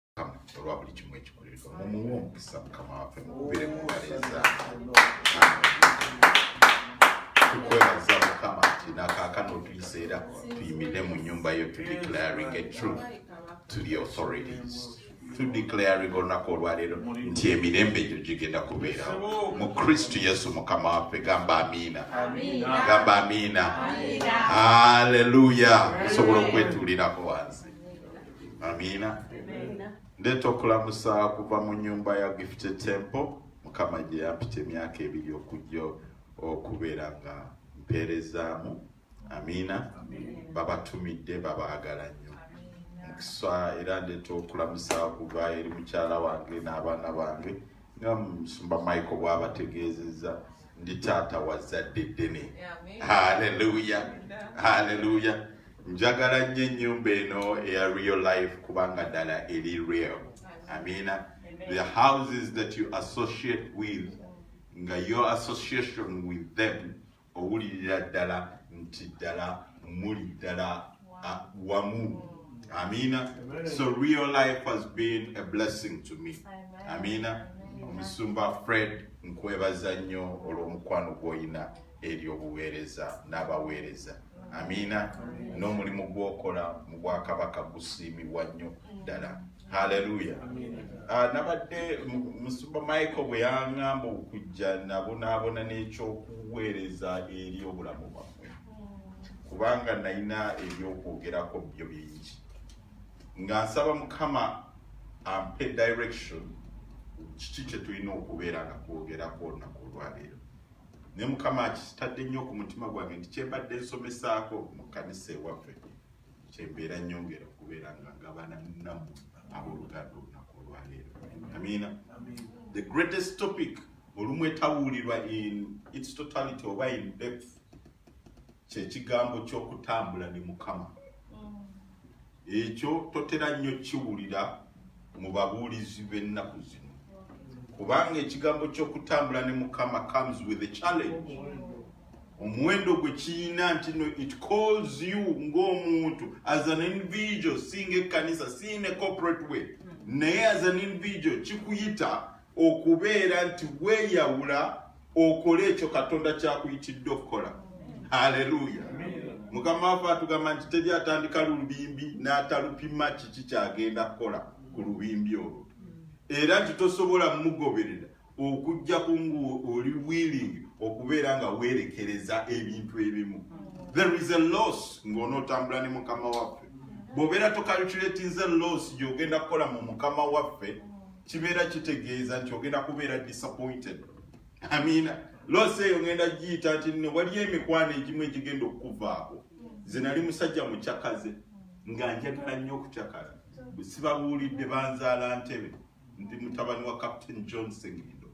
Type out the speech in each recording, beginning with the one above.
mukama olwa buli kimu ekikolereka mumuwe omukisa mukama waffe mukubire mubaleza tukwebaza mukama nti nakakana otuyiseera tuyimire mu nyumba yo to declaring a truth to the authorities to declaring olunaku olwaleero nti emirembe egyo gigenda kubeerawo mu kristu yesu mukama waffe gamba amiina gamba amiina aleluya osobola okwetuulirako wansi amiina ndeeta okulamusa kuva mu nyumba ya gifte tempo mukama gye yampita emyaka ebiri okujja okubeera nga mpeerezaamu amiina babatumidde babaagala nnyo mukisa era ndeeta okulamusa kuva eri mukyala wange n'abaana bange nga musumba michael bwabategeezezza ndi taata wazzadde ddene haleluya haleluya njagala nnyo ennyumba eno eya real life kubanga ddala eri real amina the houses that you associate with nga your association with them owulirira ddala nti ddala muli ddala wamu amina so real life has been a blessing to me amina omusumba fred nkwebaza nnyo olw'omukwano gw'olina ery'obuweereza n'abaweereza amiina n'omulimu gw'okola mu bwakabaka gusiimibwa nnyo ddala haleluya ah, nabadde musuba michael bwe yaŋamba okujja nabonaabona n'ekyokuweereza eri obulamu bwammwe kubanga nalina ebyokwogerako byo bingi nga nsaba mukama ampe direction kiki kyetulina okubeera nga kwogerako olunaku olwaleero ne mukama akitadde nnyo ku mutima gwange nti kyembadde nsomesaako mu kkanisa ewaffe kyembeera nyongera okubeera nga ngabana namu abooluganda olunaku olwaleero amiina the greatest topic olumu etawulirwa in its totality oba in depth kyekigambo ky'okutambula ne mukama Ekyo totera nnyo kiwulira mu babuulizi b'ennaku zino, kubanga ekigambo ky'okutambula ne Mukama comes with a challenge. Omuwendo gwe kiyina nti no it calls you ng'omuntu as an individual, si ng'ekkanisa, si in a corporate way, naye as an individual kikuyita okubeera nti weeyawula okole ekyo katonda kyakuyitidde okukola haleluya mukama wafe atugamba nti teri atandika lubimbi n'atalupima kiki kyagenda kukola ku lubimbi olwo era nti tosobola mugoberera okujja kungu oli willing okubeera nga weerekereza ebintu ebimu there is a loss ng'onootambula ne mukama waffe bw'obeera tokalculatinze loss gy'ogenda kukola mu mukama waffe kibeera kitegeeza nti ogenda kubeera disappointed amiina lose eyo ngenda giyita nti no waliyo emikwano egimu egigenda okukuvaako nze nali musajja mucakaze nga njagala nnyo okucakala sibabuulidde banzaala ntebe ndi mutabani wa captain john sengendo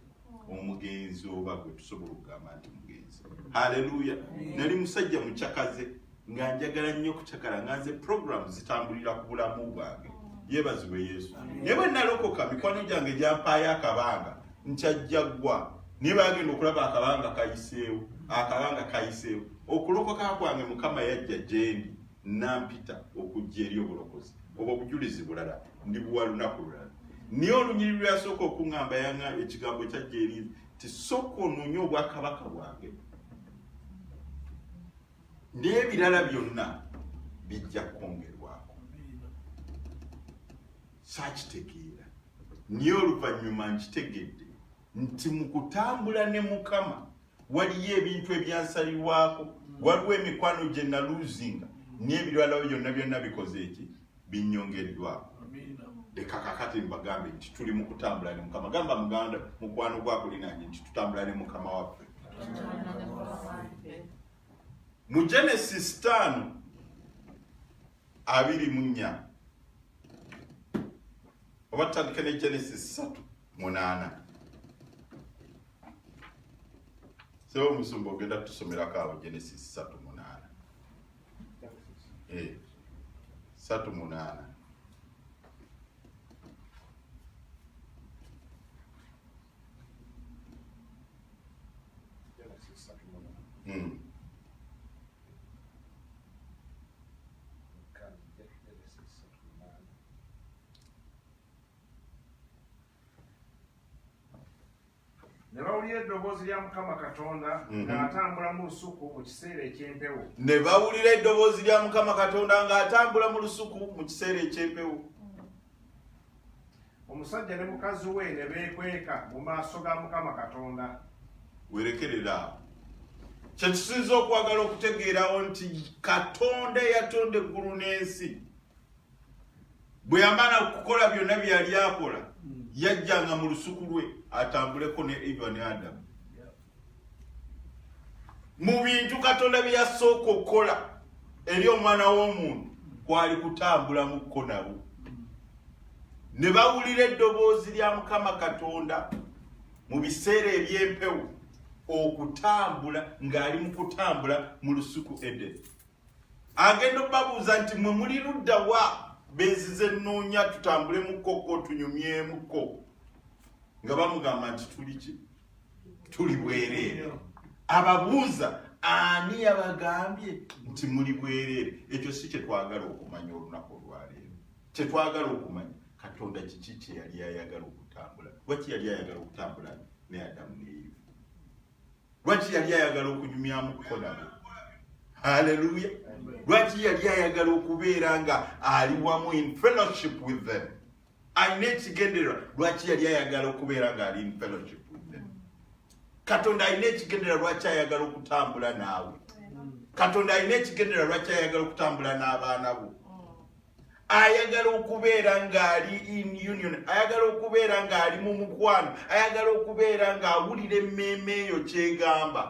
omugenzi oba gwe tusobola okugamba nti mugenzi haleluya nali musajja mucakaze nga njagala nnyo okucakala nga nze programu zitambulira ku bulamu bwange yebaziwe yesu naye bwe nalokoka mikwano gyange gyampaayo akabanga nkyajjaggwa naye bagenda okulaba akabanga kayiseewo akabanga kayiseewo okulokoka kwange mukama yajja gyendi nampita okujja eri obulokozi obwo obujulizi bulala ndi buwa lunaku lulala naye olunyiri lweyasooka okuŋamba yaŋa ekigambo kyajja eri ti sooka onoonye obwakabaka bwange n'ebirala byonna bijja kwongerwako saakitegeera naye oluvannyuma nkitegedde nti mu kutambula ne mukama waliyo ebintu ebyansalirwako waliwo emikwano gye naluzinga n'ebiralawo byonna byonna bikoze eki binyongeddwako leka kakati mbagambe nti tuli mu kutambula ne mukama gamba muganda mukwano gwakulinanye nti tutambula ne mukama waffe mu genesis taano abiri mu nnya oba tutandike ne genesis satu munaana sebo omusumba ogenda tusomerako awo genesis satu munaana eh, satu munaana Mm. ne bawulira eddoboozi lya mukama katonda mhm. ng'atambula mu lusuku mu kiseera eky'empewo ne bawulira eddoboozi lya mukama katonda ng'atambula mu lusuku mu kiseera eky'empewo omusajja ne mukazi we ne beekweka mu maaso ga mukama katonda werekerera awo kyekisinza okwagala okutegeerawo nti katonda eyatonda eggulu n'ensi bwe yamala okukola byonna bye yali akola yajjanga mu lusuku lwe atambuleko ne eva ne adamu mu bintu katonda bye yasooka okukola eri omwana w'omuntu kwali kutambulamuko nabo ne bawulira eddoboozi lya mukama katonda mu biseera eby'empewo okutambula ng'ali mu kutambula mu lusuku edeni agenda obabuuza nti mwe muli ludda wa benzize nnoonya tutambulemuko ko tunyumyemuko nga bamugamba nti tuli ki tuli bwereere ababuuza ani yabagambye nti muli bwereere ekyo si kyetwagala okumanya olunaku olwaleero kyetwagala okumanya katonda kiki kyeyali ayagala okutambula waki yali ayagala okutambula ne adamu neiva lwaki yali ayagala okunyumyamu kuko nabo haleluya lwaki yali ayagala okubeera nga ali wamu in fellowship with them alina ekigendererwa lwaki yali ayagala okubeera nga ali in fellowship with them katonda alina ekigendererwa lwaki ayagala okutambula naawe katonda alina ekigendererwa lwaki ayagala okutambula n'abaana bo ayagala okubeera ng'ali in union ayagala okubeera ng'ali mu mukwano ayagala okubeera ng'awulira emmeeme eyo kyegamba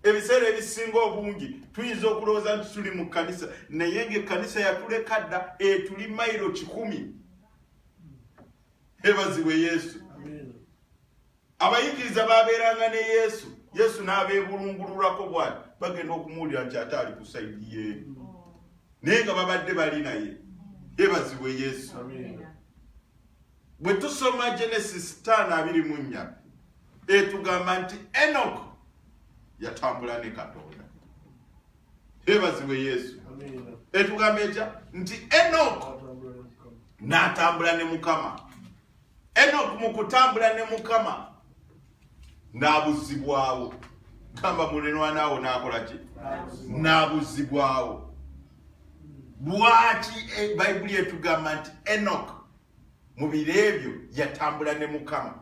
ebiseera ebisinga obungi tuyinza okulowooza nti tuli mu kkanisa naye ngaekkanisa yatuleka dda etuli mairo kikumi ebazibwe yesu abayigiriza baabeeranga ne yesu yesu n'abeebulungululako bwati bagenda okumuwulira nti ate ali ku saidi ye naye nga babadde bali naye ebazibwe yesu bwe tusoma genesis 524 etugamba nti enok yatambula ne katonda ebazibwe yesu etugamba etya nti enok n'atambula ne mukama Enoku mu kutambula ne Mukama n'abuzzibwawo. Gamba mulenwana awo n'akola ki? N'abuzzibwawo. Lwaki e, Bayibuli etugamba nti Enoku mu biro ebyo yatambula ne Mukama?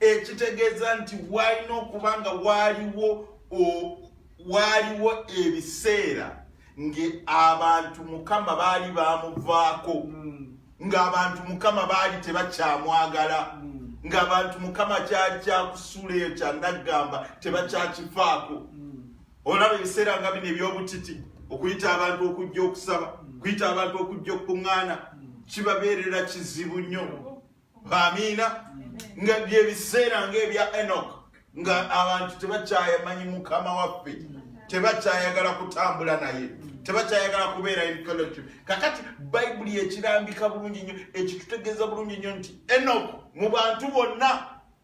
Ekitegeeza nti walina okuba nga waaliwo waaliwo ebiseera ng'abantu Mukama baali baamuvaako. Hmm. ng'abantu mukama baali tebakyamwagala mm. ng'abantu mukama kyali kyakusula eyo kyanaggamba tebakyakifaako mm. olaba ebiseera nga bino eby'obutiti okuyita abantu okujja okusaba mm. okuyita abantu okujja okukuŋŋaana kibabeerera kizibu nnyo amiina nga byebiseera ng'ebya enoka nga abantu tebakyayamanyi mukama waffe tebakyayagala kutambula naye tebakyayagala kubeera encourage kakati bayibuli ekirambika bulungi nnyo ekitutegeeza bulungi nnyo nti enok mu bantu bonna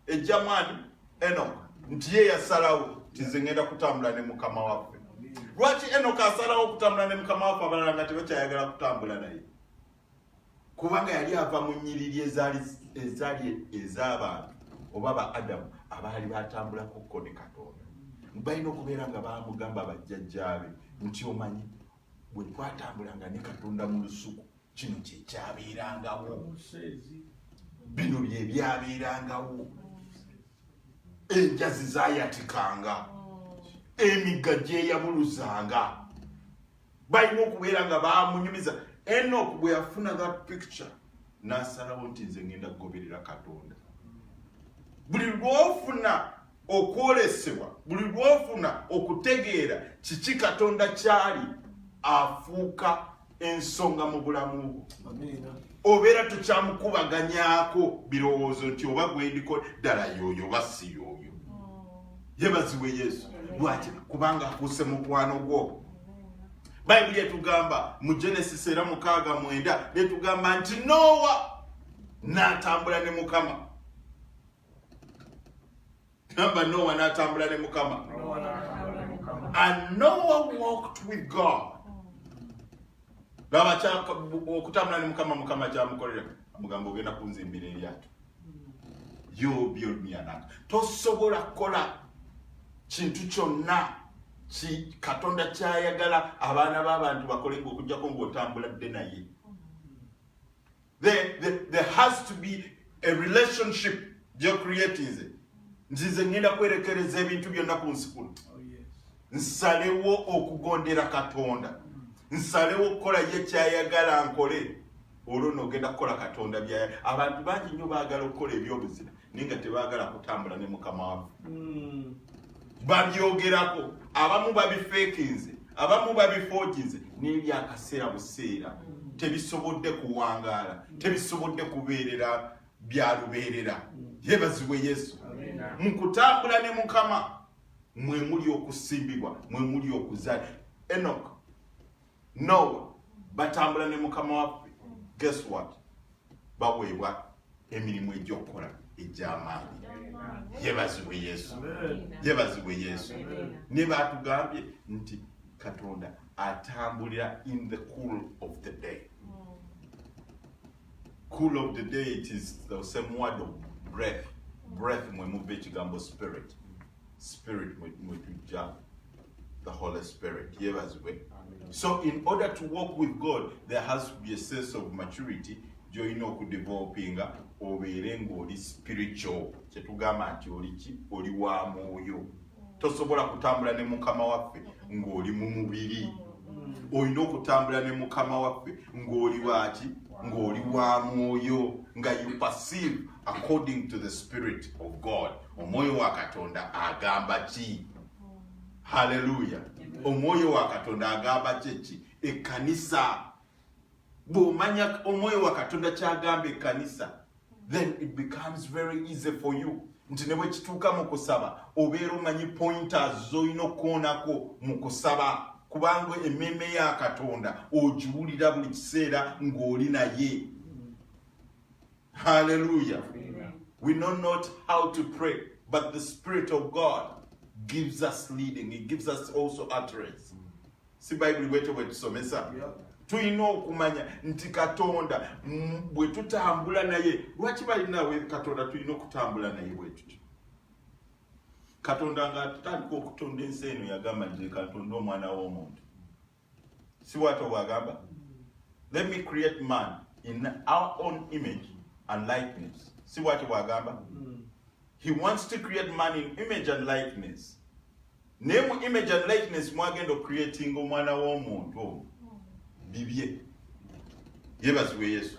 ejjamwani enok nti ye yasalawo tize ngenda kutambula ne mukama waffe lwaki enok asalawo okutambula ne mukama waffe abalala nga tebakyayagala kutambula naye kubanga yali ava mu nyiriri ezaali ezaali ez'abantu oba ba adamu abaali batambulako kko ne katonda balina okubeera nga bamugamba bajjajjaabe nti omanyi bwe twatambulanga ne katonda mu lusuku kino kyekyabeerangawo bino byebyabeerangawo enjazi zayatikanga emigga gyeyabuluzanga balina okubeera nga bamunyumiza enok bwe yafuna that picture n'asalawo nti nze ngenda kugoberera katonda buli lwofuna okwolesebwa buli lwofuna okutegeera kiki katonda kyali afuuka ensonga mu bulamu bwo obeera tukyamukubaganyaako birowoozo nti oba gwendiko ddala yooyo oba si yooyo yebaziwe yesu lwaki kubanga akuuse mukwano gwo bayibuli etugamba mu genesis era mukaaga mwenda netugamba nti noowa natambula ne mukama gamba noowa natambula ne mukama and nowa walked with god gaba kya okutambula ne mukama mukama kyamukolera amugamba ogenda kunzimbira eryato you build me an ark tosobola kukola kintu kyonna ki katonda kyayagala abaana b'abantu bakolenga okugyako ng'otambula dde naye There, there, there has to be a relationship gye creatinze nti nze ŋŋenda kwerekereza ebintu byonna ku nsi kuno oh, nsalewo okugondera katonda nsalewo okukola ye kyayagala nkole olwo noogenda kukola katonda byaya abantu bangi nnyo baagala okukola ebyobuzima naye nga tebaagala kutambula ne mukama waffe hmm. babyogerako abamu babifeekinze abamu babifooginze naye byakaseera buseera hmm. tebisobodde kuwangaala hmm. tebisobodde kubeerera byalubeerera yebazibwe yesu mu kutambula ne mukama mwe muli okusimbibwa mwe muli okuzaala enok nowa batambula ne mukama waffe guess what baweebwa emirimu egyokukola egyamaanyi yebazibwe yesu yebazibwe yesu ne batugambye nti katonda atambulira in the cool of the day cool of the day it is the same word of breath breath mwe muva ekigambo spirit spirit mwetujja the holy spirit yebazibwe so in order to walk with god there has to be a sense of maturity gyolina okudevelopinga obeere ngaoli spiritual kyetugamba nti oliki oli wa mwoyo tosobola kutambula ne mukama waffe ngaoli mu mubiri olina okutambula ne mukama waffe ngaoli waki ngaoli wa mwoyo nga you perceive according to the spirit of god omwoyo wa katonda agamba ki haleluya omwoyo wa katonda agamba kyeki ekkanisa bw'omanya omwoyo wa katonda kyagamba ekkanisa then it becomes very easy for you nti ne bwe kituuka mu kusaba obeera omanyi pointers z'olina okukoonako mu kusaba kubanga emmeeme ya katonda ogiwulira buli kiseera ng'oli naye Hallelujah. Amen. We know not how to pray, but the Spirit of God gives us leading. He gives us also utterance. Mm. Si Bible wete wetusomesa. Yeah. tulina okumanya nti katonda bwe tutambula naye lwaki balinawe katonda tulina okutambula naye bwetutyo katonda nga tutandika okutonda ensi eno yagamba nti katonda omwana w'omuntu si bwatyo bwagamba let me create man in our own image and likeness si bwatyo bwagamba he wants to create man in image and likeness naye mu image and likeness mwagenda ocreating omwana w'omuntu omu bibye yebazibwe yesu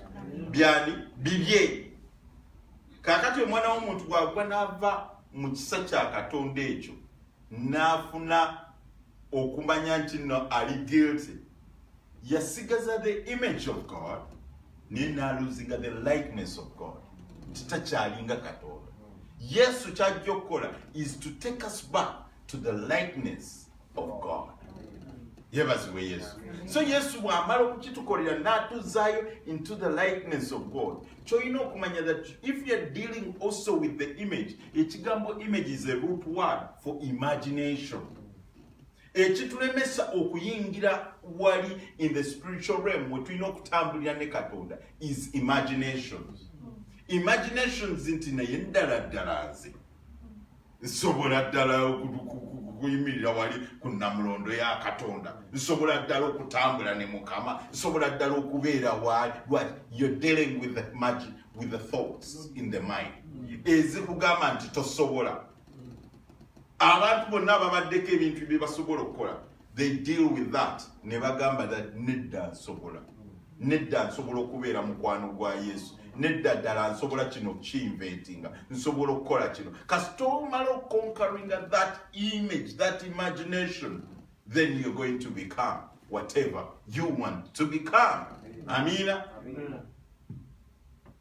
byani bibye kakati omwana w'omuntu bwagwa n'ava mu kisa kya katonda ekyo n'afuna okumanya nti no ali guilty yasigaza the image of god naye n'aluzinga the likeness of god nti takyalinga katonda yesu kyajja okukola is to take us back to the likeness of god yebazibwe yesu so yesu bwamala okukitukolera n'atuzaayo into the likeness of god kyolina okumanya that if you're dealing also with the image ekigambo image is a root word for imagination ekitulemesa okuyingira wali in the spiritual realm wetulina okutambulira ne katonda is imaginations imaginations nti naye ddala ddala nze nsobola ddala okuyimirira wali ku namulondo ya katonda nsobola ddala okutambula ne mukama nsobola ddala okubeera wali wali you're dealing with the magic with the thoughts in the mind ezikugamba nti tosobola abantu bonna babaddeko ebintu byebasobola okukola they deal with that ne bagamba that nedda nsobola nedda nsobola okubeera mukwano gwa yesu nedda ddala nsobola kino kiinventinga nsobola okukola kino kasita omala okonkaringa that image that imagination then you're going to become whatever you want to become amina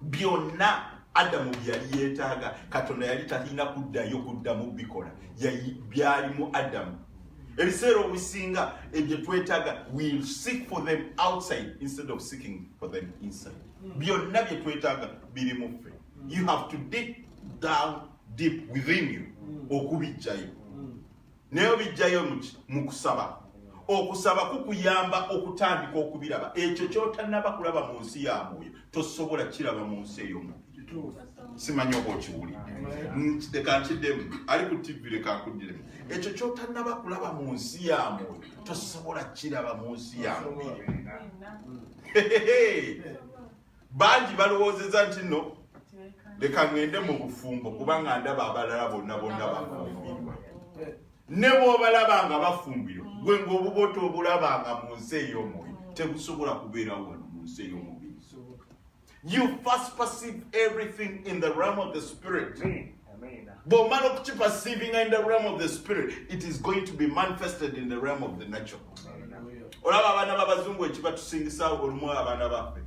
byonna adamu byeyali yeetaaga katonda yali talina kuddayo kuddamu bikola byalimu adamu ebiseera obusinga ebyo twetaaga will seek for them outside instead of seeking for them inside hmm. byonna bye twetaaga biri mu ffe you have to dig down deep within you hmm. okubijjayo hmm. naye obijjayo muki mu kusaba okusaba kukuyamba okutandika okubiraba ekyo kyotanaba kulaba mu nsi ya mwoyo tosobola kiraba mu nsi eyomu simanyi oba okiwulidde leka nkiddemu ali ku tivi leka nkuddemu ekyo kyotanaba kulaba mu nsi ya mwoyo tosobola kiraba mu nsi ya mubiri bangi balowoozeza nti no leka ŋŋende mu bufumbo kubanga ndaba abalala bonna bonna bafumbirwa ne bw'obalaba nga bafumbirwa gwe ng'obuboto obulaba nga mu nsi ey'omwoyo tebusobola kubeerawo wano mu nsi ey'omubiri you first perceive everything in the realm of the spirit mm. bwomala okukiperceivinga in the realm of the spirit it is going to be manifested in the realm of the natural olaba abaana babazungu ekibatusingisa olumu abaana baffe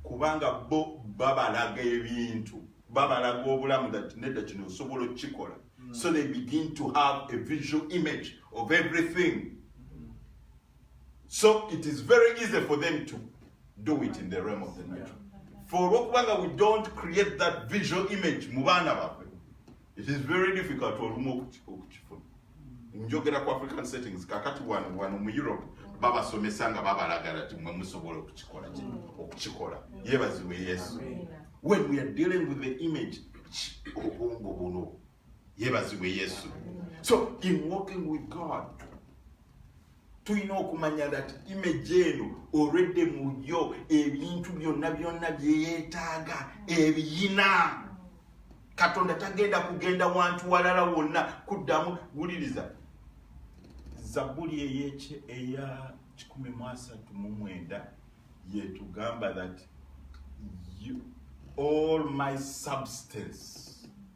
kubanga bo babalaga ebintu babalaga obulamu that nedda kino osobola okukikola so they begin to have a visual image of everything So it is very easy for them to do it in the realm of the natural. For olwokubanga we don't create that visual image mu baana baffe, it is very difficult olumu okukifuna. Njogera ku African settings kakati wano wano mu Europe babasomesa nga babalagala nti mwe musobola okukikola kino okukikola yebaziwe Yesu. When we are dealing with the image obwongo buno yebazibwe yesu so in walking with god tulina okumanya that image eno olwedde muyo ebintu byonna byonna byeyetaaga ebiyina katonda tagenda kugenda wantu walala wonna kuddamu wuliriza zabuli eyekye eya 139 yetugamba that you, all my substance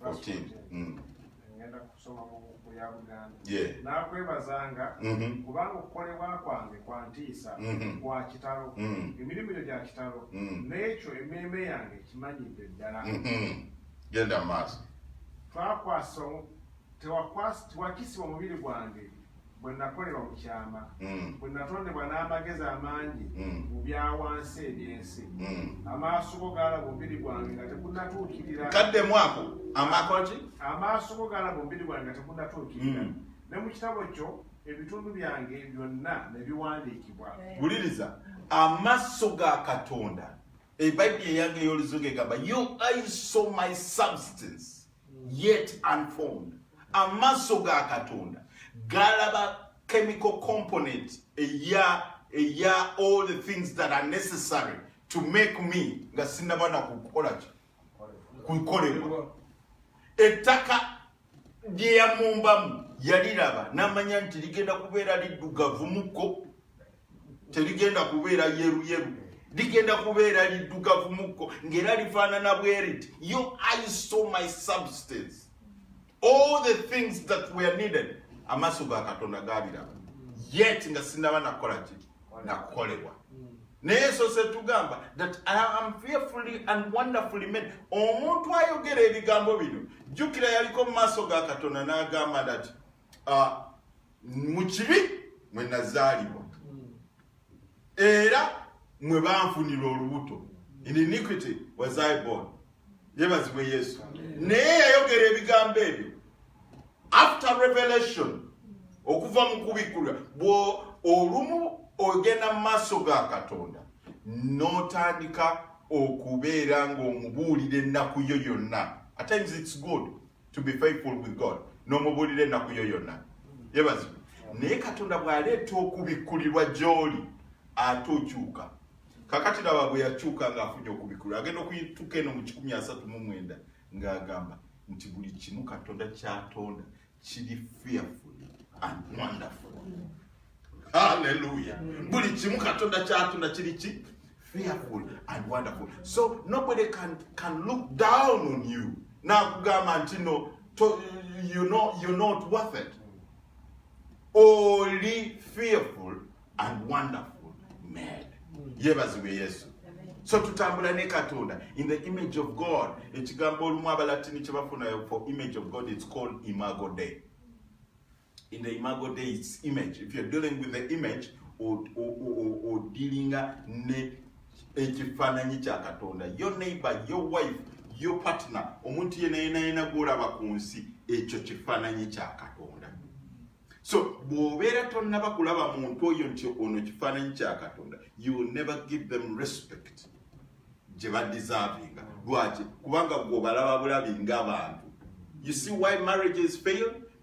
14 mm. ngenda kusoma mu buku ya buganda nakwebazanga mm-hmm. kubanga okukolebwa kwange kwa ntiisa mm-hmm. kwa kitalo mm. emirimu gyo gya kitalo mm. n'ekyo emmeeme yange ekimanyidde ddala mm-hmm. genda maaso twakwasa tewakisibwa omubiri gwange bwe nakolebwa mu kyama mm. bwe natondebwa n'amagezi amangi mm. mu byawansi eby'ensi mm. amaaso go gaalaba omubiri gwange nga tegunatuukirira kadde mwako amakoki amaaso go gaalaba omubiri gwange nga tegunatuukirira ne mu kitabo kyo ebitundu byange byonna ne biwandiikibwa wuliriza amaaso ga katonda ebayibuli eyange ey'oluzungu egamba you i saw my substance yet unformed amaaso ga katonda galaba chemical component eya eya all the things that are necessary to make me nga sinaba na kukola ki kukolebwa ettaka lye yamumbamu yaliraba namanya nti ligenda kubeera liddugavu mukko terigenda kubeera yeruyeru ligenda kubeera liddugavu mukko ng'era lifaanana bweriti yo i saw my substance all the things that were needed amaaso ga katonda gaaliraba yet nga sinaba nakukola ki nakukolebwa naye sose tugamba that i am fearfully and wonderfully made omuntu ayogera ebigambo bino jjukira yaliko mu maaso ga katonda n'agamba that uh, mu kibi mwe nazaalibwa era mwe banfunira olubuto in iniquity was I born yebazibwe yesu naye yayogera ebigambo ebyo after revelation okuva mu kubikkulwa bwo olumu ogenda mu maaso ga katonda n'otandika okubeera ng'omubuulira ennaku yo yonna at times it's good to be faithful with God n'omubuulira ennaku yo yonna yebazi naye katonda bw'aleeta okubikkulirwa gy'oli ate okyuka kakati laba bwe yakyuka ng'afunye okubikkulirwa agenda okuyituka eno mu kikumi asatu mu mwenda ng'agamba nti buli kimu katonda kyatonda kiri fearful and wonderful Hallelujah. Mm. Buli kimu katonda kyatunda kiri ki fearful and wonderful. So nobody can can look down on you. Nakugamba nti no to, you know you're not worth it. Only fearful and wonderful made. Mm. Yebazibwe Yesu. So tutambula ne Katonda in the image of God. Ekigambo olumu abalatini kye bafuna for image of God it's called imago Dei. in the imago days image if you're dealing with the image odilinga ne ekifaananyi kya katonda your neighbor your wife your partner omuntu yenayenayena gwolaba ku nsi ekyo kifaananyi kya katonda so bw'obeera tonnaba kulaba muntu oyo nti ono kifaananyi kya katonda you will never give them respect gye badeservinga lwaki kubanga gwobalaba bulabi ngabantu you see why marriages failed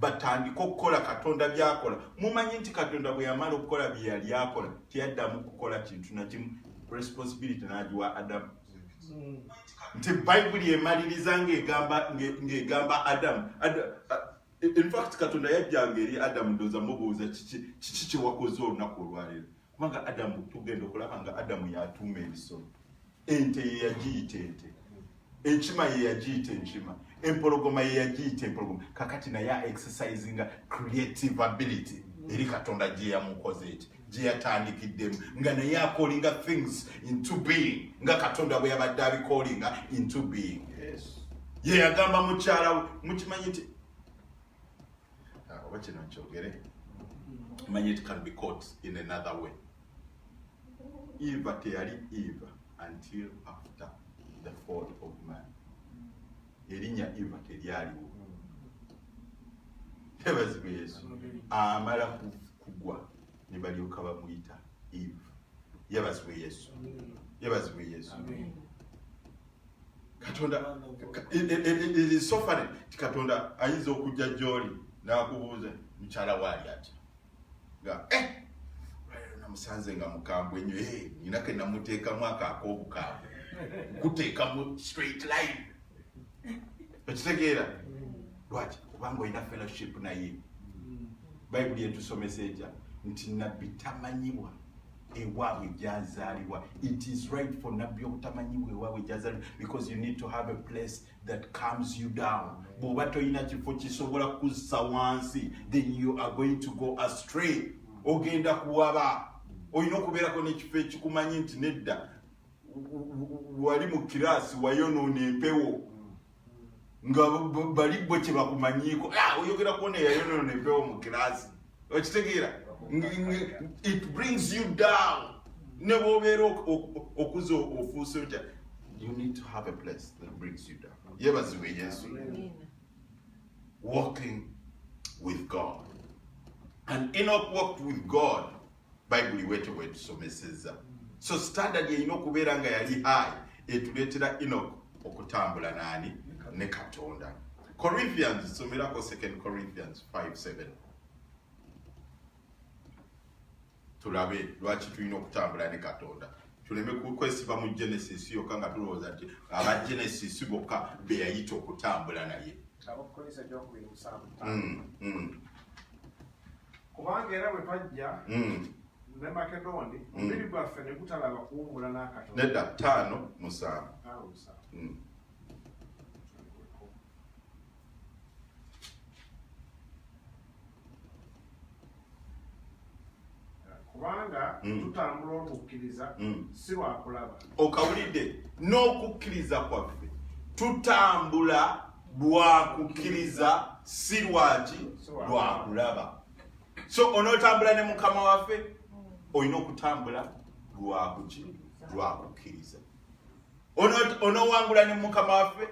batandike okukola katonda byakola mumanyi nti katonda bwe yamala okukola bye yali akola teyaddamu kukola kintu nakimu responsibility nagiwa adamu nti bayibuli emaliriza ngegamba ngegamba adamu infact katonda yajjanga eri adamu ndoza mubuuza kiki kyewakoze olunaku olwaleero kubanga adamu tugenda okulaba nga adamu yatuuma ebisolo ente yeyagiyita ente enkima yeyagiyita enkima empologoma yeyagiyita empologoma kakati naye exercisinga creative ability eri katonda gyeyamukoze eki gyeyatandikiddemu nga naye akolinga things into being nga katonda bwe yabadde abikolinga into being yeyagamba mukyalawe mukimanyi nti uh, oba kino nkyogere manyi it can be caught in another way eva teyali eva until after the fall of man erinnya eva teryaliwo tebazibwe yesu amala kugwa ne balyoka bamuyita eva yebazibwe yesu yebazibwe yesu Amen. katonda erisofane ti katonda ayinza okujja gyoli nakubuuza mukyala waali ati nga eh, namusanze nga mukambwe nyo eh, nina ke namuteekamu ako akobukambwe kuteekamu straight line ekitegeera lwaki kubanga olina fellowship naye bayibuli etusomesa etya nti nabbi tamanyibwa ewaabwe gyazaalibwa it is right for nabbi obutamanyiwo ewaabwe gyazaalibwa because you need to have a place that comes you down bw'oba tolina kifo kisobola kuzza wansi then you are going to go astray ogenda kuwaba olina okubeerako n'ekifo ekikumanyi nti nedda wali mu kiraasi wayonoona empewo nga bali bwe kyebakumanyiiko ah, oyogera kuona eyayonona empewo mu kirasi okitegeera it brings you down ne bwobeera okuza ofuuse otya you need to have a place that brings you down yebaziwe yesu walking with god and enoch walked with god bayibuli bwetyo bwetusomeseza so standard erina okubeera nga yali high etuleetera enok okutambula naani ne katonda corinthians somerako 2 corinthians 57 tulabe lwaki tulina okutambula ne katonda tuleme kwesiba mu genesis yokka nga tulowooza nti aba genesis bokka beyayita okutambula naye mm, mm. kubanga era bwe twajja hmm. ne makedoni hmm. omubiri gwaffe ne gutalaba kuwummula n'akatono nedda ttaano musanvu hmm. kubanga tutambula okukkiriza si wakulaba okawulidde n'okukkiriza kwaffe tutambula lwa kukkiriza si lwaki lwa kulaba so onootambula ne mukama waffe olina okutambula lwakuki lwa kukkiriza onoowangula ne mukama waffe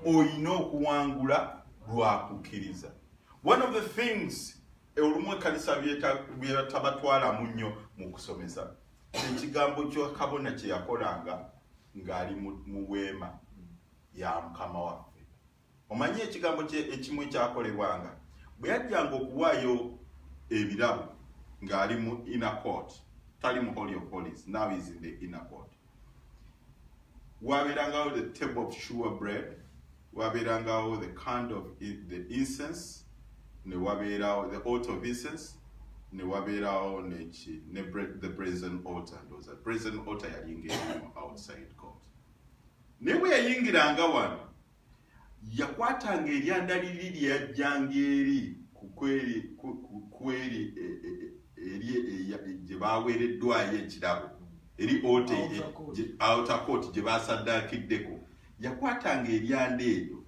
olina okuwangula lwa kukkiriza one of the things olumu ekkanisa byetabatwalamu nnyo mu kusomesa ekigambo kyakabona kyeyakolanga ng'ali mu weema ya mukama waffe omanyi ekigambo ekimu ekyakolebwanga bwe yajjanga okuwaayo ebirabo ng'ali mu inner court tali mu holy of holies now is in the inner court wabeerangawo the table of sure bread wabeerangawo the cand of the incense ne wabeerawo the alt of incense ne wabeerawo neki ne the brazen altar ndoza brazen altar yalinga erimu outside court Naye bwe yayingiranga wano, yakwatanga eryanda liri lye yajjanga eri ku eri e, e, e, eri gye baaweereddwayo ekirabo eri ote outer court gye baasaddaakiddeko yakwatanga eryanda eryo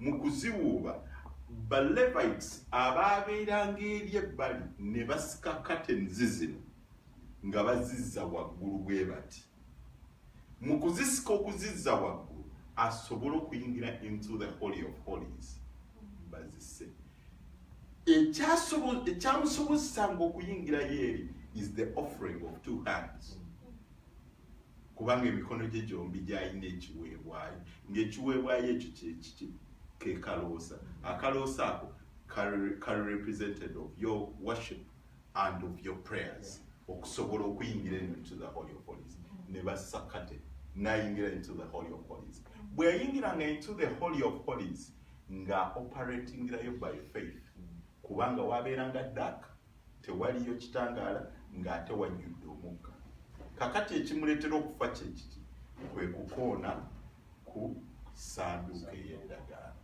Mu kuziwuuba, Balevites abaabeeranga eri ebbali ne basika katenzi zino nga bazizza waggulu bwe bati. Mu kuzisika okuzizza waggulu asobole okuyingira into the holy of holies bazise ekyamusobozesanga okuyingirayo eri is the offering of two hands kubanga emikono gye gyombi gyalina ekiweebwayo ng'ekiweebwayo ekyo kyekiki ke kaloosa akaloosa ako kali represented of your worship and of your prayers okusobola okuyingira eno into the holy of holies ne bassa kate nayingira into the holy of holies bwe yayingira nga into the holy of holies nga operatingirayo by faith kubanga wabeera nga dak tewaliyo kitangaala ng'ate wajjudde omukka kakati ekimuleetera okufa kyekiki kwe kukoona ku sanduuka ey'endagaano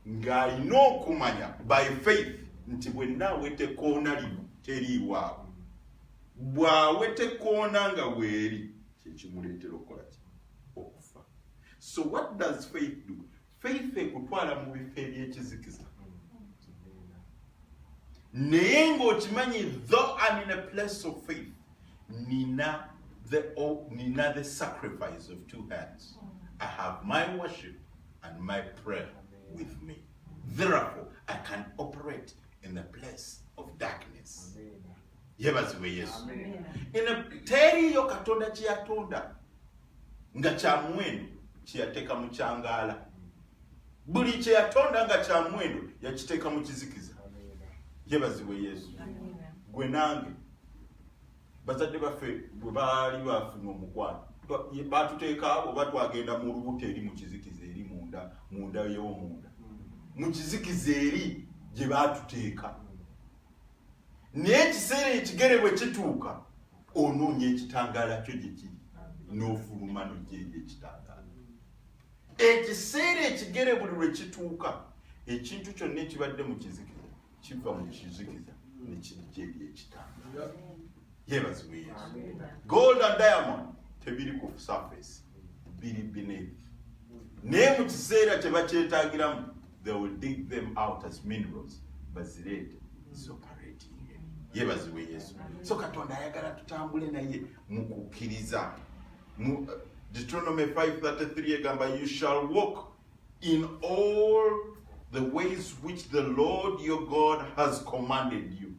ng'alina okumanya by faith nti bwenna awete koona lino teriiwaabwe bw'awete koona nga weeri kyekimuleetera okukola ki okufa so what does faith do faith ekutwala mu bifo ebyekizikiza naye ng'okimanyi though am in a place of faith nina the, oh, nina the sacrifice of two hands i have my worship and my prayer with me therefore i can operate in the place of darkness yebazibwe yesu teri yo katonda kyeyatonda nga kyamuwendo kyeyateeka mu kyangaala buli kyeyatonda nga kyamuwendo yakiteeka mu kizikiza yebazibwe yesu gwe nange bazadde baffe bwe baali bafuna omukwano batuteeka oba twagenda mu lubuto eri mu kizikiza eri munda munda yewomunda mu kizikiza eri gye batuteeka naye ekiseera ekigere bwe kituuka onoonya ekitangaala kyo gye kiri n'ofuluma nogyeyo ekitangaala ekiseera ekigere buli lwe kituuka ekintu kyonna ekibadde mu kizikiza kiva mu kizikiza ne kijja eri ekitangaala yebazibwe yesu gold and diamond tebiri ku surface biri beneath naye mu kiseera kye bakyetagiramu they will dig them out as minerals bazireete zoparate yebazibwe yesu so katonda ayagala tutambule naye mukukkiriza mu uh, deuteronomy 533 egamba you shall walk in all the ways which the lord your god has commanded you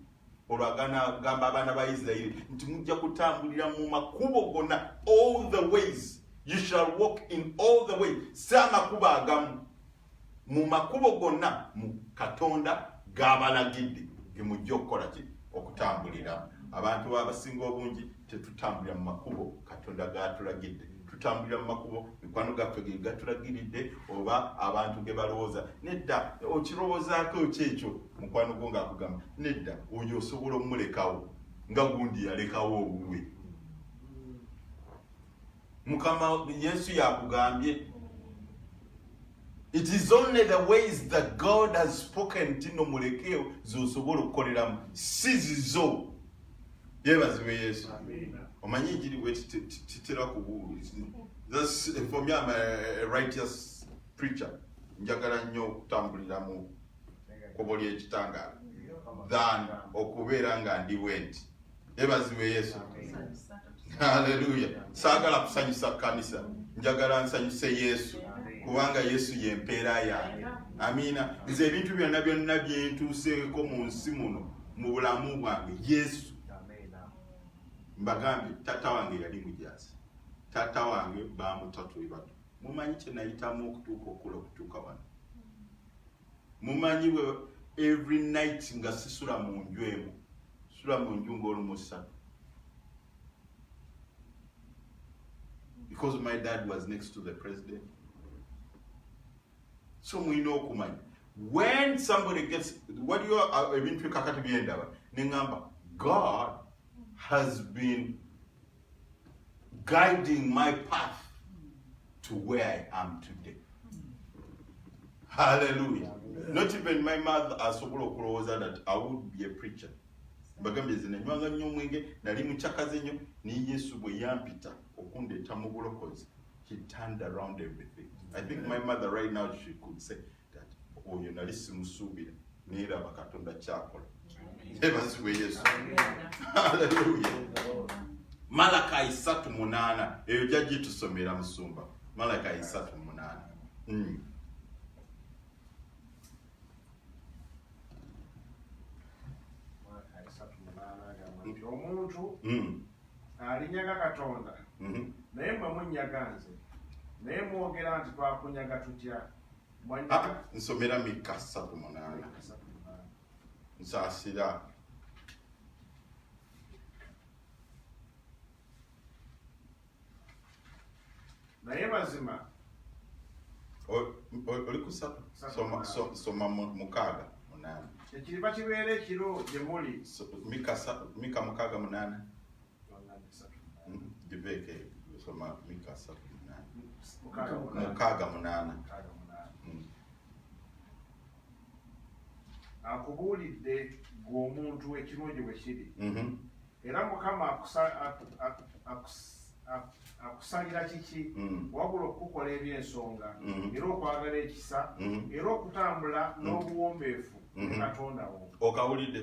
olwo agamba abaana ba isirairi nti mujja kutambulira mu makubo gonna all the ways you shall walk in all the ways si amakubo agamu mu makubo gonna mu katonda gabalagidde gemujja okukola ki okutambulira abantu abasinga obungi tetutambulira mu makubo katonda gatulagidde tutambulira mu makubo mikwano gaffe ge gatulagiridde oba abantu ge balowooza nedda okirowoozaako ki ekyo mukwano gwo ngaakugamba nedda oyo osobola omumulekawo nga gundi yalekawo owuwe mukama yesu yakugambye it is only the ways that god has spoken tino mulekeyo zosobola okukoleramu si zizo yebazibe yesu omanyi enjiri bwe titera kubuulizi for me am a righteous preacher njagala nnyo okutambulira mu kubo ly'ekitangaala than okubeera nga ndi bwenti ebazibwe yesu haleluya saagala kusanyusa kanisa njagala nsanyuse yesu kubanga yesu yempeera yange amiina nze ebintu byonna byonna byentuuseeko mu nsi muno mu bulamu bwange yesu mbagambye taata wange yali mujaasi taata wange bamutatuibatu mumanyi kyenayitamu okutuuka okula okutuuka wano mumanyi bwe every night nga sisula mu nju emu sula mu nju ng'olumusatu because my dad was next to the president so mulina okumanya when somebody gets waliyo uh, ebintu ekakati byendaba neŋamba god has been guiding my path to where I am today. Hallelujah. Not even my mother asobola okulowooza that I would be a preacher. Mbagambye nze nanywanga nnyo omwenge nali mucakaze nnyo ne Yesu bwe yampita okundeeta mu bulokozi. He turned around everything. I think my mother right now she could say oyo nali simusuubira neeraba katonda kyakola ebazibwe yesu aleluya malakayi satu munaana eyo jajji tusomera musumba malakayi satu munaana hmm. omuntu hmm. alinyaga katonda hmm. naye mwe munyaga nze naye mwogera nti twakunyaga tutya ah, nsomera mikka satu munaana nsasira naye mazima oli kusatu soma mukaaga munaana ekiriba kibeera ekiro gye muli mika mukaaga munaana Dibeke soma Mika satu munana mukaaga munana akubuulidde gwe omuntu ekirungi bwe kiri mhm. era mukama akusalira kiki mm. wabula okukukola ebyensonga mm. era okwagala ekisa mm. era okutambula n'obuwombeefu ne katonda wo okawulidde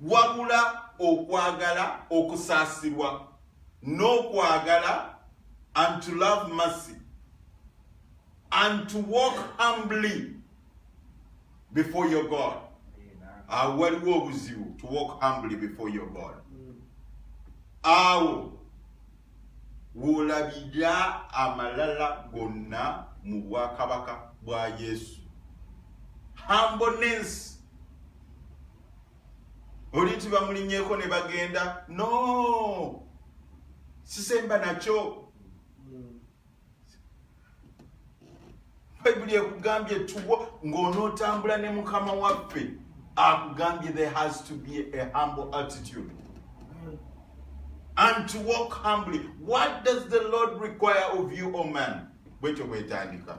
wabula okwagala okusaasirwa n'okwagala and to love mercy and to walk humbly before your god awo waliwo obuzibu to walk humbly before your god awo wolabira amalala gonna mu bwakabaka bwa yesu humbleness oli nti bamulinyeko ne bagenda no sisemba nakyo bayibuli ekugambye tuwo ng'onootambula ne mukama waffe akugambye there has to be a humble attitude and to walk humbly what does the lord require of you o oh man bwekyo bwetandika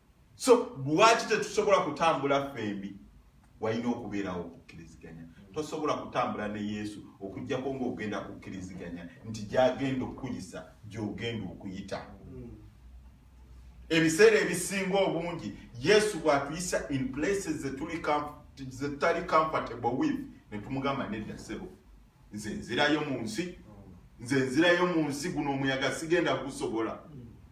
so lwaki tetusobola kutambula ffembi walina okubeerawo okukkiriziganya tosobola kutambula ne yesu okujjako ngaogenda kukkiriziganya nti gyagenda okukuyisa gyogenda okuyita ebiseera ebisinga obungi yesu bwatuyisa in places zetutali comfortable with netumugamba nedda sebo nze nzirayo mu nsi nze nzirayo mu nsi guno omuyaga sigenda gusobola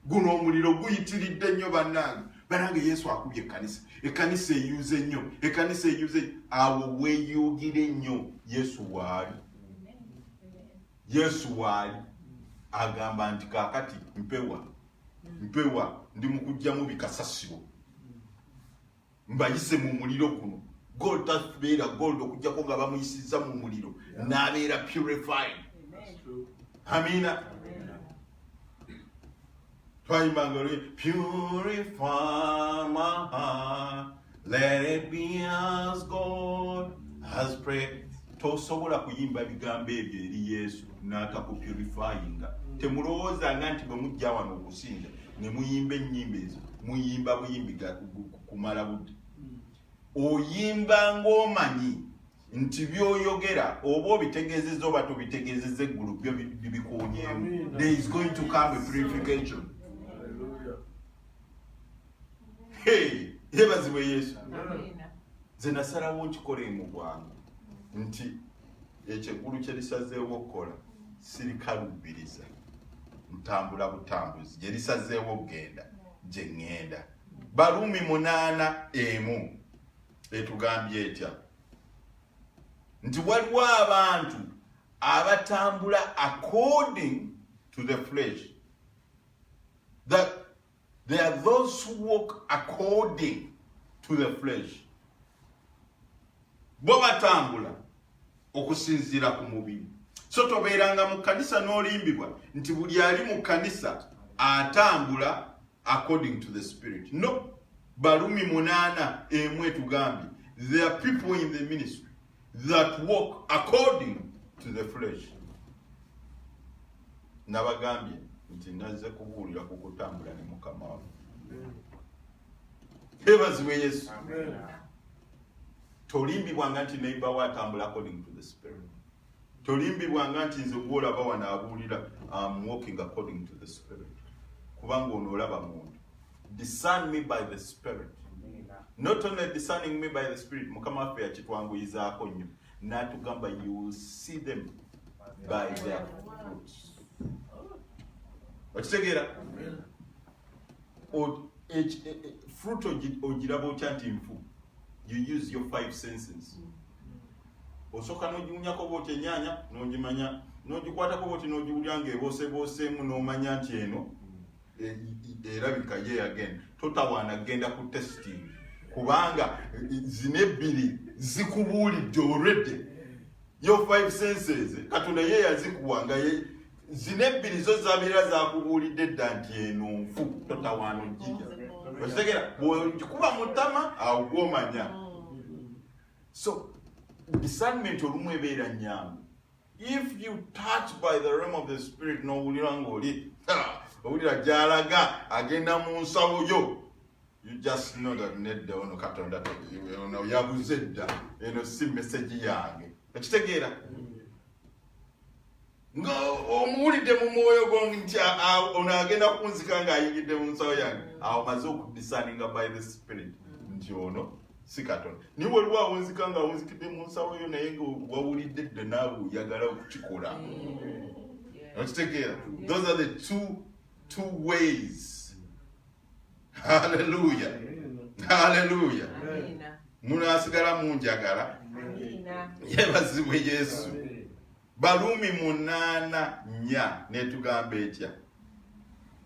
guno omuliro guyitiridde nnyo bannange banange yesu akubye ekkanisa ekkanisa eyuze nnyo ekkanisa eyuze awo weyugire nnyo yesu waali yesu waali agamba nti kakati mpewa mpewa ndi mukujjamu bikasasiro mbayise mu muliro guno gold tabeera gold okujjako nga bamuyisizza mu muliro n'abeera purified amina twayimbanga oli purify my heart let it be as god has prayed tosobola kuyimba bigambo ebyo eri yesu n'atakupurifyinga temulowooza nga nti bwe mujja wano okusinza ne muyimba ennyimba ezo muyimba buyimbi kumala budde oyimba ng'omanyi nti byoyogera oba obitegezeza oba tobitegezeza eggulu byo bikuunyemu there is going to come a purification yebazibwe yesu nze nasalawo nkikole mu bwangu nti ekyo eggulu kye lisazeewo okukola sirikaluubiriza ntambula butambuzi gye lisazeewo okugenda gye ŋŋenda baluumi munaana emu etugambye etya nti waliwo abantu abatambula according to the flesh that There are those who walk according to the flesh. Bo batambula okusinziira ku mubiri. So tobeeranga mu kanisa n'olimbibwa nti buli ali mu kanisa atambula according to the spirit. No. Balumi munaana emu etugambye. There are people in the ministry. that walk according to the flesh nabagambye nti nazze kubuulira ku kutambula ne mukama wa ebazibwe yesu tolimbibwanga nti neiba wo atambula according to the spirit tolimbibwanga nti nze gwolaba wano abuulira am walking according to the spirit kubanga ono olaba muntu discern me by the spirit not only discerning me by the spirit mukama waffe yakitwanguyizaako nnyo natugamba you will see them by their fruits okitegeera e, e, fruit ogiraba otya nti nfu you use your five senses mm. osooka n'ogiwunyako oba oti enyaanya n'ogimanya n'ogikwatako oba oti n'ogiwulira ng'eboosebooseemu n'omanya nti eno erabika ye again totawaana kugenda ku testing kubanga zino ebbiri zikubuulidde already yo five senses katonda ye yazikuwa nga zino ebbiri zo zabeera zakubuulidde dda nti eno nfu totawaana ojjija okitegera bwekuba mutama awo gwomanya So discernment olumu ebeera nyangu if you touch by the realm of the spirit n'owulira ng'oli owulira gy'alaga agenda mu nsawo yo you just know that nedda ono katonda ono yabuze dda eno si message yange ekitegeera nga omuwulidde mu mwoyo gwo nti ono agenda kunzika ng'ayingidde mu nsawo yange awo maze okudisaninga by the spirit nti ono si katonda naye waliwo awunzika nga awunzikidde mu nsawo yo naye nga wawulidde dda naawe oyagala okukikola okitegeera those are the two two ways haleluya haleluya munasigala munjagala yebazibwe yesu baluumi munaana nya netugamba etya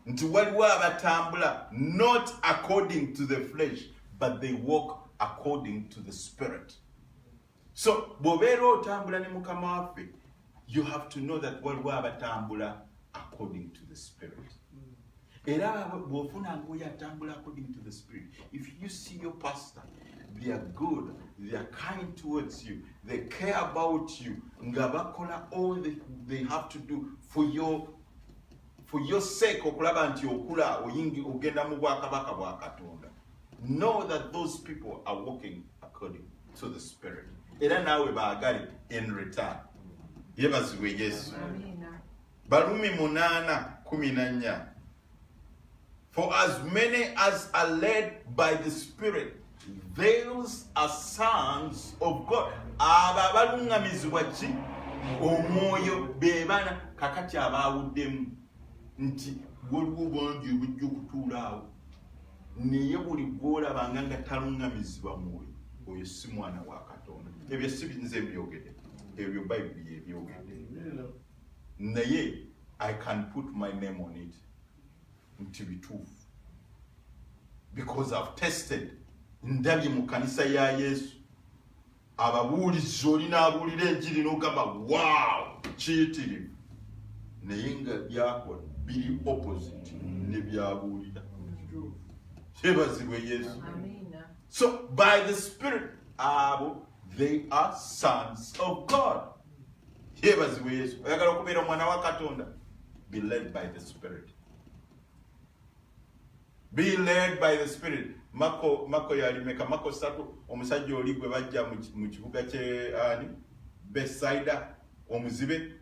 nti waliwo abatambula not according to the flesh but they walk according to the spirit so bw'obeera otambula ne mukama waffe you have to know that waliwo abatambula according to the spirit era bw'ofuna ngoyo atambula according to the spirit if you see your pastor they are good they are kind towards you they care about you nga bakola all the, they have to do for your for your sake okulaba nti okula oyingi ogenda mu bwakabaka bwa katonda know that those people are walking according to the spirit era naawe baagale in return yebazibwe yesu balumi munaana kumi na nnya for as many as are led by the spirit those are sons of god abo abaluŋŋamizibwa ki omwoyo beebana kakati abaawuddemu nti waliwo bangi obujja okutuula awo naye buli gwolabanga nga talungamizibwa mwoyo oyo si mwana wa katonda ebyo si nze byogede ebyo bayibuli yebyogede naye i can put my name on it nti bituufu because i've tested ndabye mu kanisa ya yesu ababuulizi oli n'abuulira enjiri n'ogamba waawo kiyitirivu naye nga byakola biri opposite ne byabuulira kyebazibwe yesu so by the spirit abo they are sons of god kyebazibwe yesu oyagala okubeera omwana wa katonda be led by the spirit Be led by the spirit. Mako mako yali meka mako satu omusajja oli gwe bajja mu kibuga kye ani Bethsaida omuzibe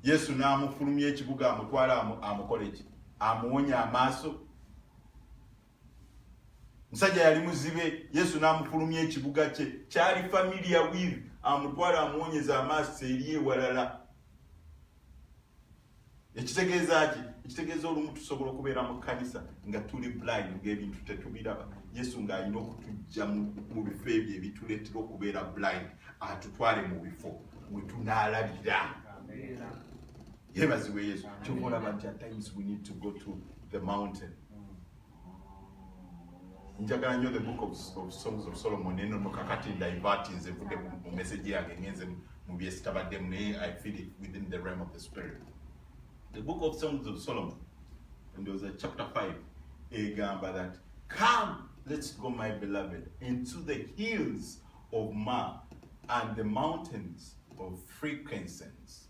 Yesu n'amufulumya ekibuga amutwala amukole ki amuwonya amaaso musajja yali muzibe Yesu n'amufulumya ekibuga kye kyali familiar with amutwala amuwonyeza amaaso eri ewalala ekitegeeza ki ekitegeeza olumu tusobola okubeera mu kkanisa nga tuli blind ngaebintu tetubiraba yesu ng'alina okutujja mu bifo ebyo ebituleetera okubeera blind atutwale mu bifo we tunaalabira yebaziwe yesu kyoba olaba nti at times we need to go to the mountain njagala nyo the book of, of songs of solomon eno nokakati ndivati nze vude mu message yange ngenze mu byesitabaddemu naye i feel it within the realm of the spirit the book of songs of solomon and there was a chapter 5 egamba that come let's go my beloved into the hills of ma and the mountains of frequencies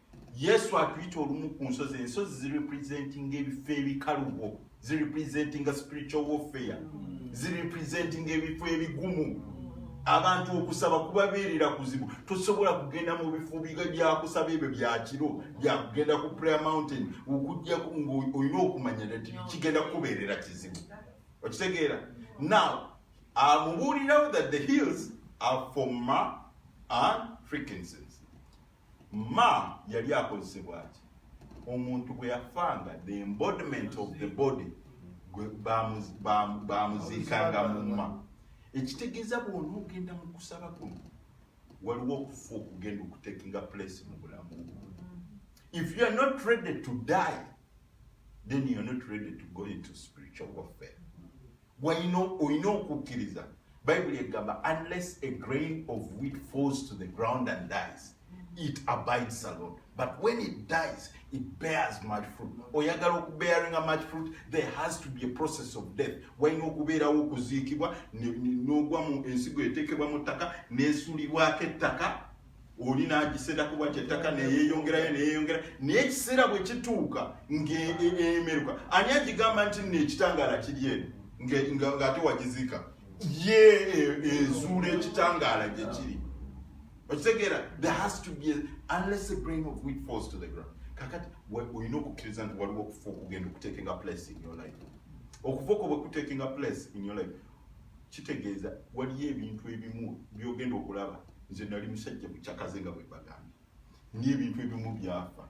yesu atuyita olumu ku nsozi ensozi zirepresentinga ebifo ebikalubo zirepresentinga spiritual warfare zirepresentinga ebifo ebigumu abantu okusaba kubabeerera kuzibu tosobola kugenda mu bifo biga byakusaba ebyo byakiro byakugenda ku prayer mountain okujjaku ngaolina okumanya nti kigenda kukubeerera kizibu okitegeera now amubuulirawo that the hills are for ma and frequencies ma yali akozesebwa ki omuntu bwe yafanga the embodiment of the body bamuziikanga mumma ekitegeeza bwona ogenda mu kusaba kuno waliwo okufa okugenda okutekinga place mu bulamu if you are not ready to die then you are not ready to go into spiritual warfare walina olina okukkiriza bayibuli egamba unless a grain of wheat falls to the ground and dies it abides alone but when it dies it bears much fruit oyagala okubearinga much fruit there has to be a process of death walina okubeerawo okuziikibwa n'ogwa mu ensigo eteekebwa mu ttaka n'esulibwako ettaka oli n'agiserako bwati ettaka neyeyongerayo neyeyongera naye ekiseera bwe kituuka ng'emeruka e, e, ani agigamba nti nno ekitangaala kiri eno ng'ate wagiziika ye e, ezuula ekitangaala gye kiri okitegeera there has to be unless a grain of wheat falls to the ground kakati olina okukkiriza nti waliwo okufa okugenda okuteekinga place in your life okufa okwo bwe kuteekinga place in your life kitegeeza waliyo ebintu ebimu byogenda okulaba nze nali musajja mucakaze nga bwebagambye n'ebintu ebimu byafa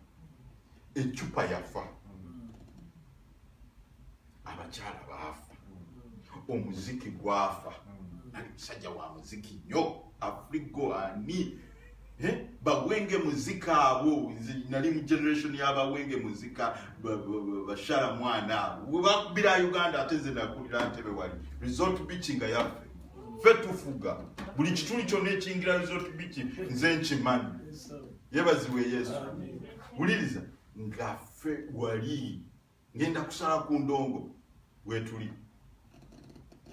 eccupa yafa abakyala baafa omuziki gwafa nali musajja wa muziki nyo afrigo ani eh? bawenge muzika abo nze nali mu generation yabawenge muzika bashara mwana abo webakubira uganda ate nze nakulira ntebe wali resort beach nga yaffe ffe tufuga buli kituli kyonna ekingira resort beach nze nkimanyi yebaziwe yesu wuliriza nga ffe wali ngenda kusala ku ndongo wetuli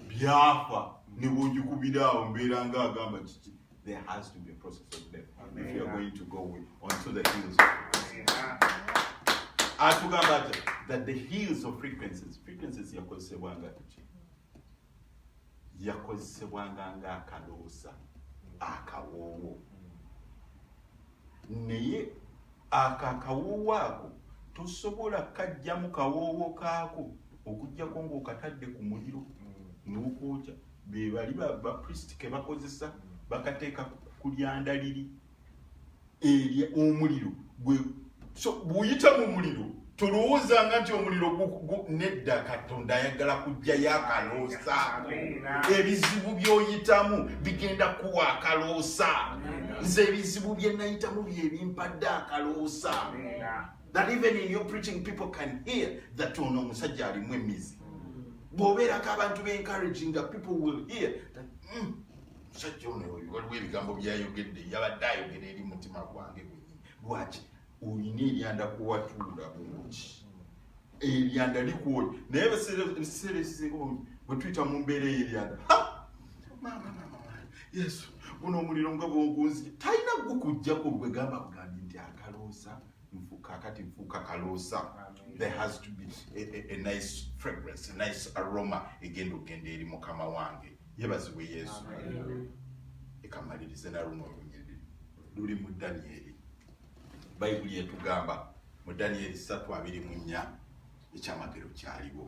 byafa nebwogikubira awo mbeera nga agamba kiki there has to be a process of death Amen. if you are going to go with, onto the hills of atugamba ati that the hills of frequencies frequencies yakozesebwanga tuki yakozesebwanga ng'akaloosa akawoowo naye ako akawoowo ako tosobola kajja mu kawoowo kaako okujjako ng'okatadde ku muliro n'okwokya be bali bapriest ke bakozesa bakateeka ku lyandaliri erya omuliro gwe so buyita mu muliro tolowoozanga nti omuliro nedda katonda ayagala kujjayo akaloosa ebizibu byoyitamu bigenda kuwa akaloosa nze ebizibu byenayitamu byebimpadde akaloosa that even in your preaching people can hear that ono omusajja alimu emizi bwobeerako abantu be encouraging that people will hear that, mm, musajja ono oyo waliwo ebigambo byayogedde yabadde ayogera eri mutima gwange gwenyini lwaki olina eryanda kuwatuula bungi eryanda likuoyo naye ebiseera ekisinga bungi bwetuyita mu mbeera eyo eryanda yesu guno omuliro nga bwogunzi talina gukujjako gwegamba bugambi nti akaloosa kakati nfuuka kaloosa there has to be a, a, a nice fragrance a nice aroma egenda okugenda eri mukama wange yebazibwe yesu ekamalirize naluno olunyiriri luli mu danyeri bayibuli etugamba mu danyeri satu abiri mu nnya ekyamagero kyaliwo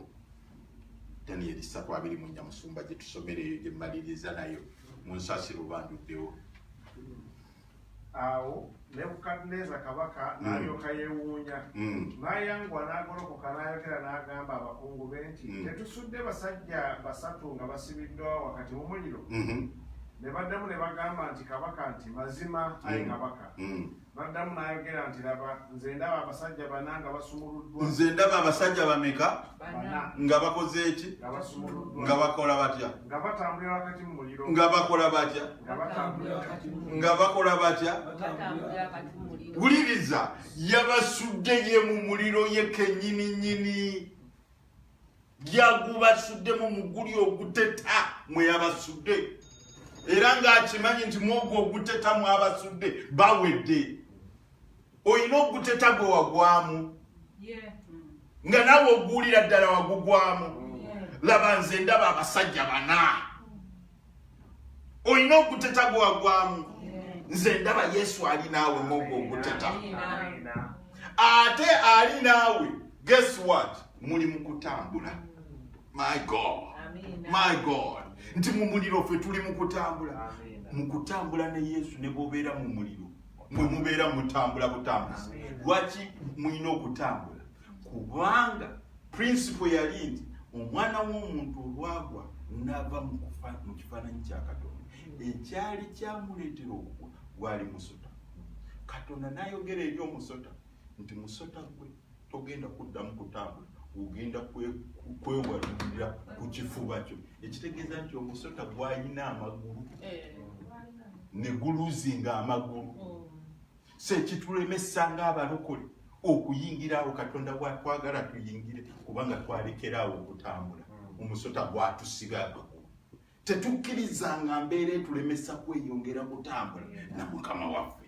danyeri satu abiri mu nnya musumba gyetusomera eyo gyemaliriza nayo munsasiro banduddewo Awo Nebukadduneeza kabaka mm. n'alyoka yeewuunya, mm. n'ayanguwa n'agolokoka n'ayogera n'agamba abakungu be nti, mm. Tetusudde basajja basatu nga basibiddwa wakati mu muliro? Mm-hmm. Ne baddamu ne bagamba nti, Kabaka nti, Mazima, ayi kabaka. N'addamu n'ayogera nti, Laba, nze ndaba abasajja bana nga basumuluddwa. Nze ndaba abasajja bameka nga bakoze eki? Nga bakola batya? Nga bakola batya? nga bakola batya wuliriza yabasudde ye mu muliro ye kenyini nyini yagubasuddemu muguli oguteta mwe yabasudde era ng'akimanyi nti mwogwo oguteta mwabasudde bawedde olina oguteta gwe wagwamu nga nawe oguwulira ddala wagugwamu laba nze ndaba abasajja bana olina oguteta gwagwamu nze ndaba yesu ali naawe mwogo oguteta ate ali naawe guess what muli mu kutambula my god my god nti mu muliro ffe tuli mu kutambula mu kutambula ne yesu ne bobeera mu muliro mwe mubeera mutambula butambuzi lwaki mulina okutambula kubanga prinsipo yali nti omwana w'omuntu olwagwa n'ava mu kifaananyi kya katonda ekyali kyamuleetera okugwa gwali musota katonda n'ayogera eri omusota nti musota gwe togenda kuddamu kutambula ogenda kwewalulira ku kifuba kyo ekitegeeza nti omusota gwalina amagulu eh. ne guluzinga amagulu oh. kyekitulemesa ng'abalokole okuyingira awo katonda watwagala tuyingire kubanga twalekera awo okutambula hmm. omusota gwatusiba abagulu tetukkiriza nga mbeera etulemesa kweyongera kutambula na mukama waffe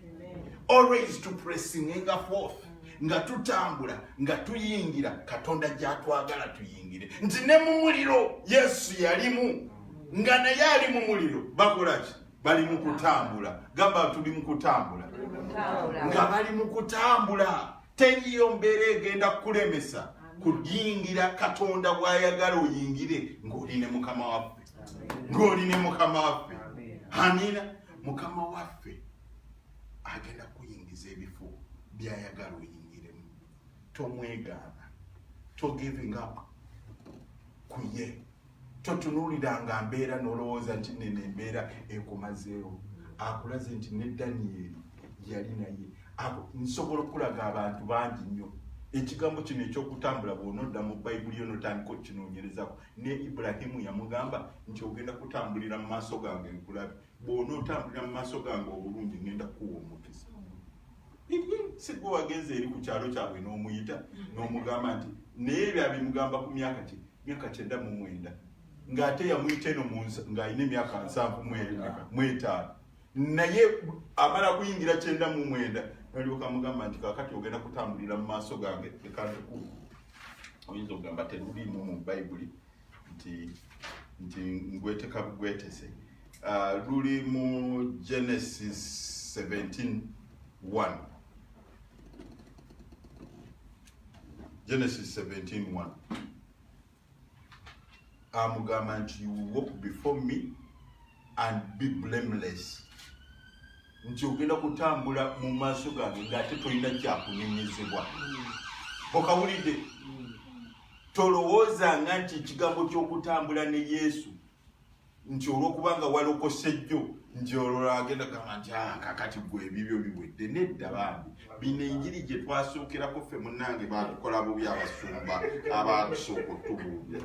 always to pressing enga forth nga tutambula nga tuyingira katonda gyatwagala tuyingire nti ne mu muliro yesu yalimu hmm. nga naye ali mu muliro bakolaki bali mu kutambula gamba tuli mu kutambula nga bali mu kutambula teriyo mbeera egenda kukulemesa kuyingira katonda bwayagala oyingire ng'oli ne mukama waffe ng'oli ne mukama waffe amina mukama waffe agenda kuyingiza ebifo byayagala oyingiremu tomwegaana to giving up kuye totunuliranga mbeera nolowooza nti neno embeera ekumazeewo akulaze nti ne danieri yali naye nsobola okulaga abantu bangi nnyo ekigambo kino ekyokutambula bwonodda mu bayibuli yo notandika okinonyerezako ne ibulahimu yamugamba nti ogenda kutambulira mu maaso gange nkulabe bwona otambulira mu maaso gange obulungi ngenda kukuwa omukisa sigwe wagenze eri ku kyalo kyabwe n'omuyita n'omugamba nti naye ebyo abimugamba ku myaka kye myaka kyenda mu mwenda ng'ate yamuyita eno ng'alina emyaka nsanvu mwetaano naye amala kuyingira kyenda mu mwenda nalyoka mugamba nti kakati ogenda kutambulira mu maaso gange ekantukulu oyinza okugamba teruliimu mu bayibuli nti nti ngweteka bugwetese uh, luli mu genesis 17 1 Genesis 17:1 amugamba nti you will walk before me and be blameless nti ogenda kutambula mu maaso gange ngaate tolina kyakunenyezebwa okawulidde tolowoozanga nti ekigambo ky'okutambula ne yesu nti olwokuba nga walokose jjo nti olwola agenda kugamba nti ah, kakati gwe ebibyo biwedde nedda bambi bino enjiri gye twasookerako ffe munnange batukola bubi abasumba abaatusooka otubuubi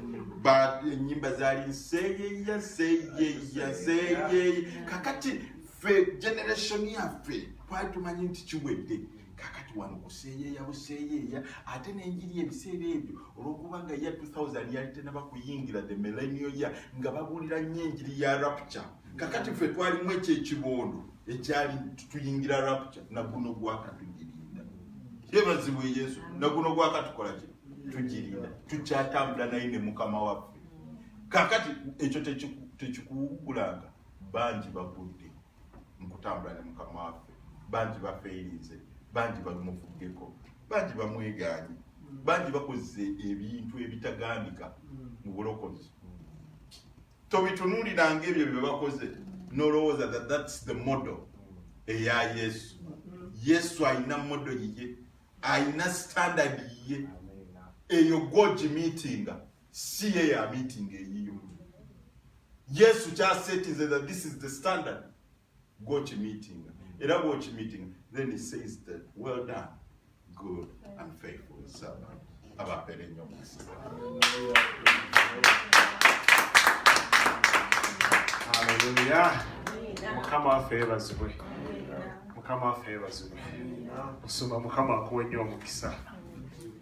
enyimba zaali nseyeya seyeya seyeya kakati ffe generation yaffe twali tumanyi nti kiwedde kakati wano kuseeyeeya buseeyeeya ate n'enjiri ebiseera ebyo olw'okuba nga ya 2000 yali tenaba kuyingira the millennial ya nga babuulira nnyo enjiri ya rapture kakati ffe twalimu ekyo ekibondo ekyali tuyingira rapture naguno gwakatugirinda yebazibwe yesu naguno gwakatukola ki tugirinda tukyatambula naye ne mukama waffe kakati ekyo tekikuwugulanga bangi bagudde mu kutambula ne mukama waffe bangi bafeerinze bangi balumufuddeko bangi bamwegaanyi bangi bakoze ebintu ebitagambika mu bulokozi tobitunuuliranga ebyo bye bakoze nolowooza that thats the model eya yesu yesu alina model yiye alina standard yiye eyo gogimitinga si ye ya meeting eyiyo yesu kyasetinze that this is the standard gwokimeetinga era bwokimeetinga then he says that well done good and faithful servant abapere nyo mukisa haleluya mukama waffe yebazibwe mukama waffe yebazibwe osoma mukama akuwe nyo omukisa